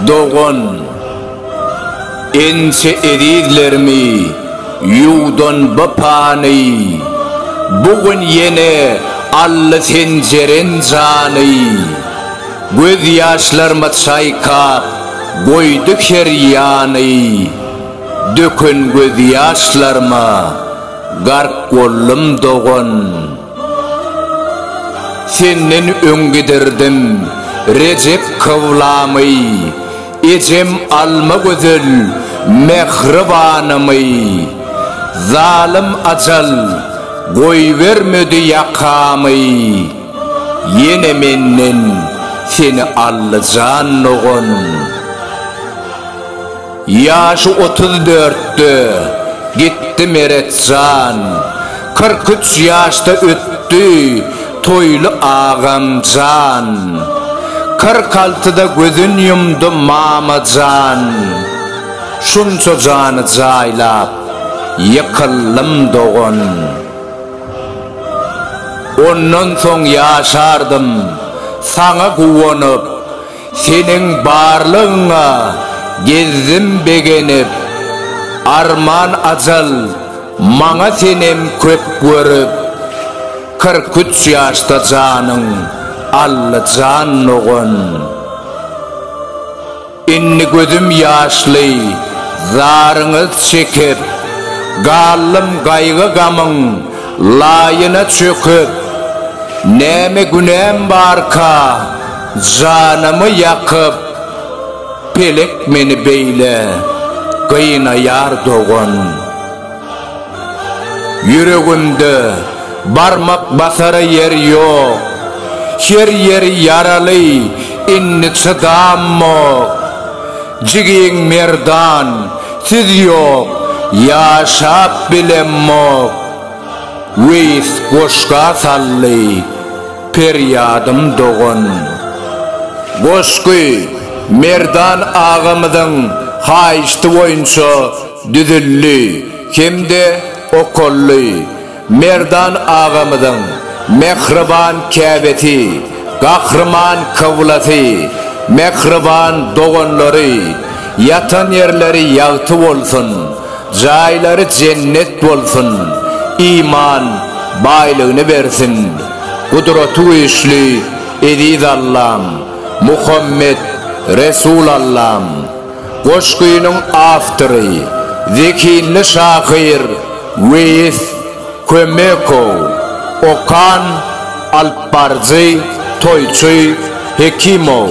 Dogan, inçe ezizlerimi ýuwdan bu pany, Bu gün ýene aldy senjeren jany. Gözýaşlarymy çaýkap, goýdy her ýany. Döken gözýaşlaryma gark boldum dogan. Senden öň gidirdim Rejep kyblamy, Ejem Almagözel mähribanymy. Zalym ajal goýbermedi ýakamy, Ýene menden seni aldy jan dogan. Ýaşy otuz dörtde gitdi Meret jan, Kyrk üç ýaşda ötdi Toýly agam jan. Kyrk altyda gözün ýumdy Mama jan. Şunça jany jaýlap ýykyldym dogan. Ondan soň ýaşardym saňa guwanyp. Seniň barlygyňa gezdim begenip, Arman ajal, maňa senem köp görüp. Kyrk üç ýaşda janyň Allyjan dogan. Indi gözüm ýaşly zaryňyz çekip, Galdym gaýgy-gamyň laýyna çöküp. Näme günäm barka, Janymy ýakyp, pelek meni beýle gynaýar dogan. Ýüregimde barmak basara ýer ýok, her ýeri ýaraly, indi çydammok. Jigiň Merdan, siz ýok, ýaşap bilemmok. Weýs goşga saldy, Perýadym dogan. Goşgy Merdan agamyzyň haýyşty boýunça düzüldi hem-de okaldy. Merdan agamyzyň mähriban käbesi, gahryman kyblasy, mähriban doganlary, ýatan ýerleri ýagty bolsun! Jaýlary jennet bolsun, iman baýlygyny bersin, Gudraty güýçli Eziz Allam, Muhammet Resul Allam! Goşgynyň awtory, zehinli şahyr Weýis Kömekow, okan, alypbaryjy Toýçy Hekimow.